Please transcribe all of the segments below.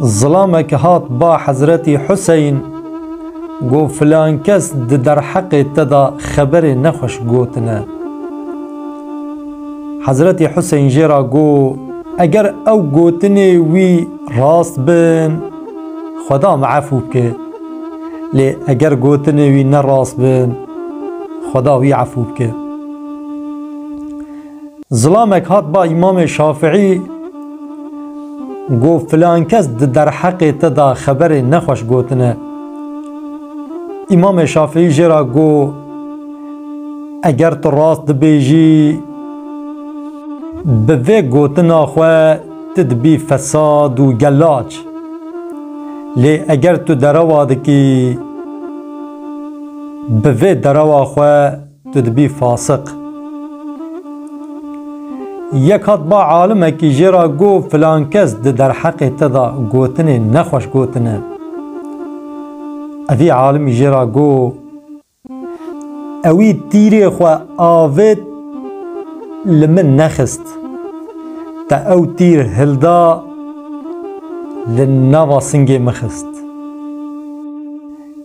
Zilamek hat ba Hezretî Huseyn, got filankes di derheqê te de xeberê nexweş gotine. Hezretî Huseyn jê re got, Eger ew gotinê wî rast bin, Xweda min efû bike. Lê eger gotinê wî ne rast bin, Xweda wî efû bike. Zilamek hat ba Îmamê Şafiî got filan kes di derheqê te de xeberê nexweş gotine. Îmamê Şafiî jê re got eger tu rast dibêjî bi vê gotina xwe tu dibî fesad û gelaç. Lê eger tu derewa dikî bi vê derewa xwe Tu dibî fasiq. Yek hat ba alimekî jê ra got filankes di derheqê te de gotinê nexweş gotine. Evî alimî jê ra got Ewî tîrê xwe avêt li min nexist. Te ew tîr hilda li nava singê min xist.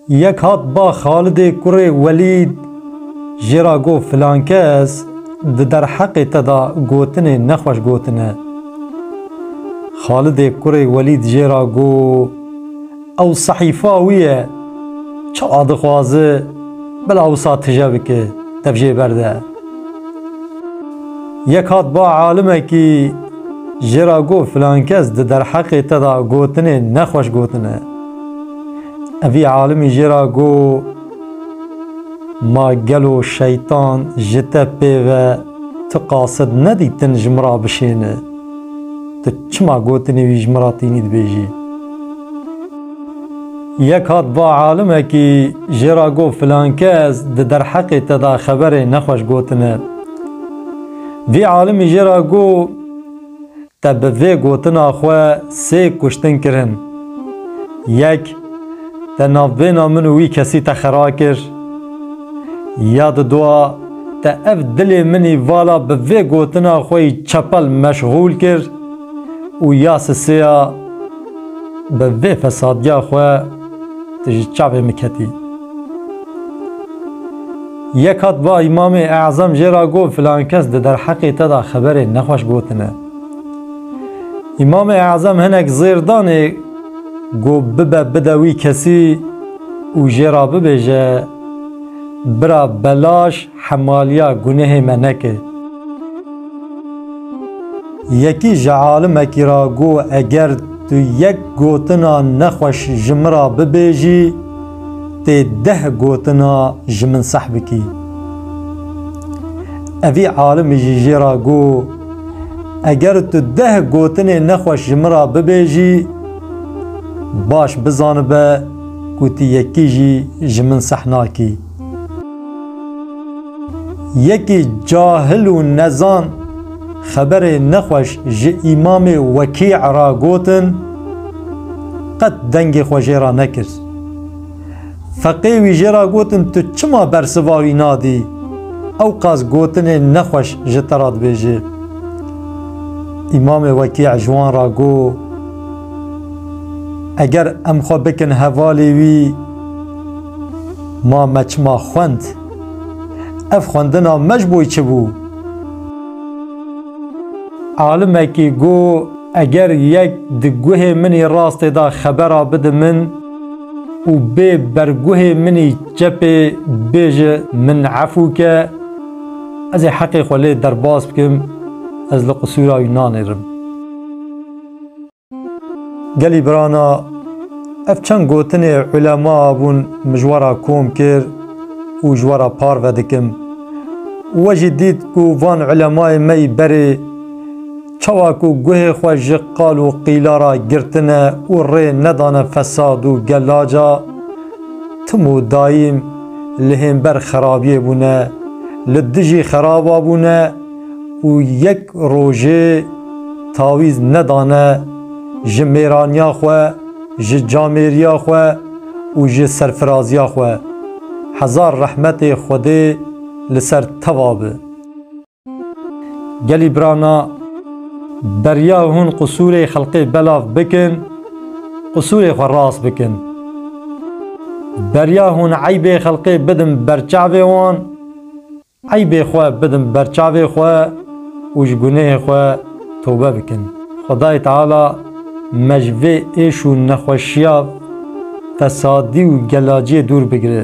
Yek hat ba Xalidê kurê Welîd jê ra got filankes di derheqê te de gotinê nexweş gotine. Xalidê kurê Welîd jê ra got ew sehîfa wî ye, çi a dixwaze bila wisa tije bike dev jê berde. Yek hat ba alimekî jê ra got filankes di derheqê te de gotinê nexweş gotine. Evî alimî jê ra got, Ma gelo şeytan ji te pê ve tu qasid nedîtin ji min ra bişêne? Tu çima gotinê wî ji min ra tînî dibêjî? Yek hat va alimekî jê ra got, Filankes di derheqê te de xeberê nexweş gotine. Vî alimî jê ra got, Te bi vê gotina xwe sê kuştin kirin. Yek, te navbêna min û wî kesî te xera kir. Ya di dua, te ev dilê minî vala bi vê gotina xwe yî çepel meşxûl kir û ya sisêya, bi vê fesadiya xwe tu ji çavê min ketî. Yek hat va Îmamê E'zam jê ra got filan kes di derheqê te de xeberên nexweş gotine. Îmamê E'zam hinek zêr danê ku bibe bide wî kesî û jê ra bibêje, Bira belaş hemaliya gunehê me neke. Yekî ji alimekî ra got eger tu yek gotina nexweş ji min ra bibêjî, Tê deh gotina ji min seh bikî. Evî alimî jî jê ra got, Eger tu deh gotinên nexweş ji min ra bibêjî, baş bizanibe ku tu yekî jî ji min seh nakî. Yekî cahil û nezan xeberê nexweş ji Îmamê Wekî ra gotin, qet dengê xwe jê ra nekir. Feqê wî jê re gotin tu çima bersiva wî nadî? Ewqas gotinê nexweş ji te re dibêje. Îmamê Wekî ji wan re got, Eger em xwe bikin hevalê wî, ma me çima xwend? Ev xwendina me ji bo çi bû? Alimekî got, Eger yek di guhê min ê rastê de xebera bide min û bê berguhê min ê çepê bêje min efû ke, ez ê heqê xwe lê derbas bikim, ez li qisûra wî nanêrim. Gelî birana ev çend gotinê ulema bûn min ji we re kom kir û ji we re parve dikim. We jî dît ku van ulemayên me yî berê çawa ku guhê xwe ji qal û qîla re girtine û rê nedane fesad û gelaca, tim û daîm li hênber xerabiyê bûne, li dijî xeraba bûne, û yek rojê tawîz nedane ji mêraniya xwe, ji camêriya xwe û ji serfiraziya xwe. Hezar rehmetê Xwedê li ser teva bi. Gelî birana beriya hûn qisûrê xelqê belav bikin, qisûrê xwe rast bikin. Beriya hûn eybê xelqê bidin berçavê wan, Eybê xwe bidin ber çavê xwe û ji gunehê xwe tobe bikin. Xwedayê Teala me ji vê êş û nexweşiya fesadî û gelaciyê dûr bigire.